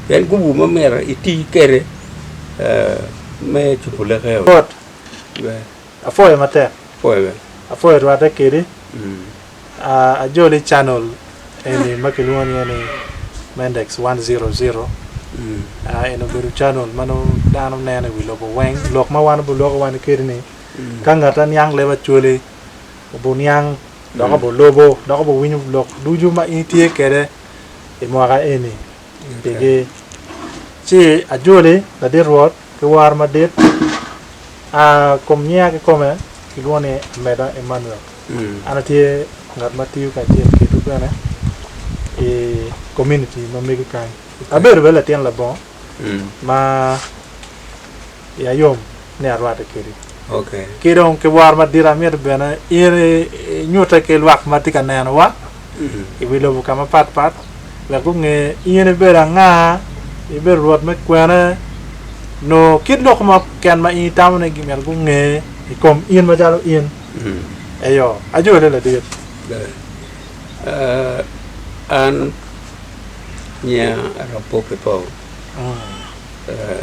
Pien gubu ma myero iti kwede me cupu leke aye. Rwot, apwoyo matek. Apwoyo rwatte kedi. Ajoli channel eni ma kilwongo ni iye ni Mendex one zero zero. Eni obedo channel ma nongo dano neno i wi lobo weng. Lok ma wan buloko wani kedi ni ka ngat aniang leb acwali obuniang dok obolobo dok obowinyo lok ducu ma in itye kwede. i mwaka eni pigi. Ci ajoli ladit Rwot ki woro madit, a kum nyinga kikome kilwongo ni Ameda Emmanuel. An atye ngat ma tiyo kacel kedwu bene i komuniti ma mego kany. Abedo bene latin labongo ma. I ayom ni arwate kedi. Okay. Ki dong ki woro madit amito bene in inyute ki lwak ma tye ka nenowa i wi lobo ka mapat pat wek gunge in ibedo anga, ibedo Rwot me kwene, nongo kit lok mo keken ma in itamo ni myero gunge i kom in macalo in. Eyo, ajole ladit. Ber. Ah, an nyinga Arap Pope Paul. Ah,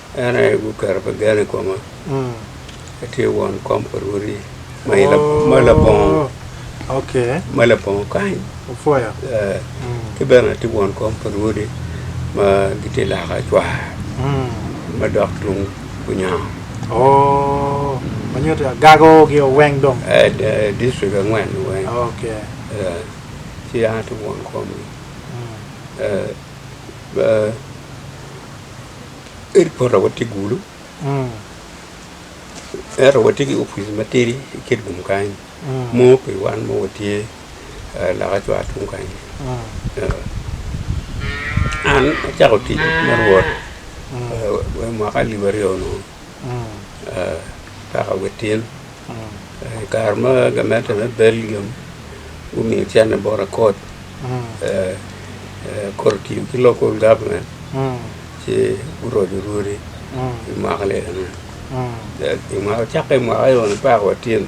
En aye guketo pi gen i koma, atye won kom pa rwodi ma labongo kany, ki bene atye won kom pa rwodi ma gitye loka cwar ma dok tung Bunyango, dictrict angwen ni weng, ci an atye won komgi. Ento pota watye gulu ento watye ki opic matidi i Kitgum kany mo pi wan ma watye loka cwar tung kany. An acako tic me Rwot mwaka alip aryo onongo kaka wit tyen. I kare ma gamente me Belgium gumiyo cente bot akot, akot otiyo ki local government ci guroco rwodi i mwaka lelana. I mwaka cakke i mwaka ni apar wa tyen.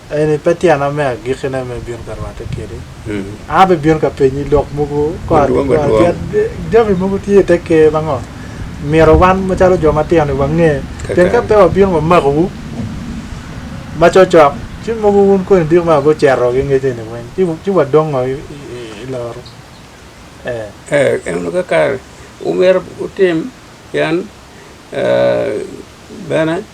Eni pe tyena me agikkine ma ibino ka rwatte kwede. An abibino ka penyi lok mogo madwong adwong. Jami mogo tye i te Ker ma ngo? Myero wan macalo jo matino-ni wange, pien ka pe wabino wamakowu macokcok, ci mogo wun koni diki ma gucito ki ngec eni weng, ci wadong ngo i loru? Ee, enonu kakato. Omyero wutim, pien bene.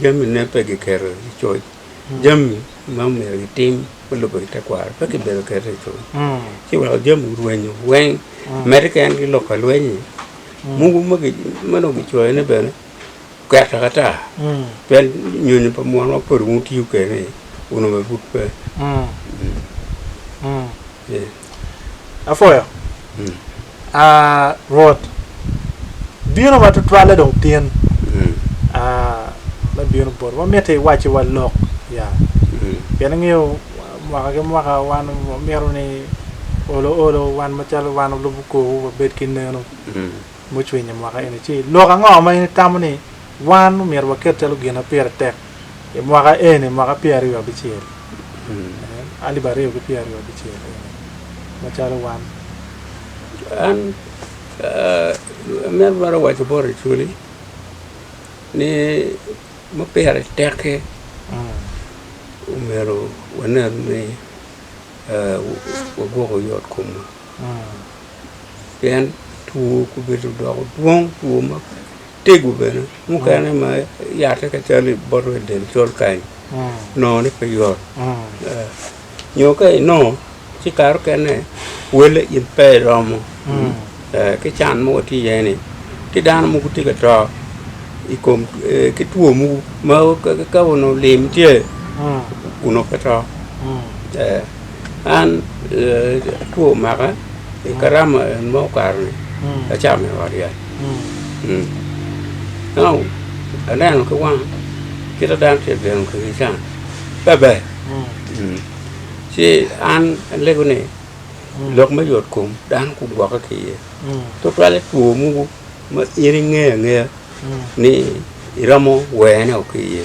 jamine pe kiketo i coc jami ma omyero gitim me lubo ki tekwaro pe kibedo keto i coc ci weko jami orwenyo weng medde ki en ki lok ka lweny-nyi mogo ma ki ma dong kicoyone bene oket taka ata pien nyonyo pa munu ma pud wun wutiyo kwede-ni onongo bene pud pe. Apwoyo. Ah, Rwot, bino ma tutwalle dong tin. Ah, me bino boti. Wamiti iwacciwa lok. Ya. Pien ingeyo mwaka ki mwaka wan wamito ni olo olo wan macalo wan olubu korwu wabed ki neno. mucwinyo mwaka eni ci, lok ango ma in itamo ni wan omyero waket calo gin ma pire tek i mwaka eni, mwaka pyera aryo abicel, alip aryo ki pyera aryo abicel eni macalo wan? An, amyero twero waco bot Acoli ni ma pire tek-ki omyero wanen ni wagwoko yot komwa. pien two obedo odoko dwong two matego bene mukene ma yate calo iboto i del col kany nongone pe yot nyo ka inongo ci kare mukene wele in pe iromo ki can ma watye iye ni ki dano mogo tye ka to i kom ki two mogo ma ka onongo lim tye onongo pe to An two omaka i karama en ma okato-ni, acamo i ot yac. Ento aneno ki wanga kit ma dano tye ka gemo kwede can bebe. Ci an alego ni lok me yotkom dano gugwokke ki iye tutwalle two mogo ma in ingeyo angeya ni iromo werone woko ki iye.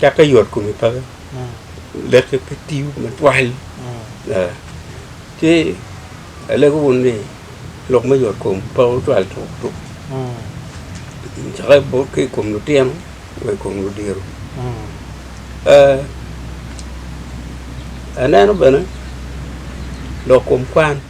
Cak ka yot kome pe leke pe tiyo matwal. Ci alego wun ni lok me yot kom pe otwal tuk tuk. Cake bot ki i kom lutino wa i kom ludiro. Aneno bene lok kom kwan.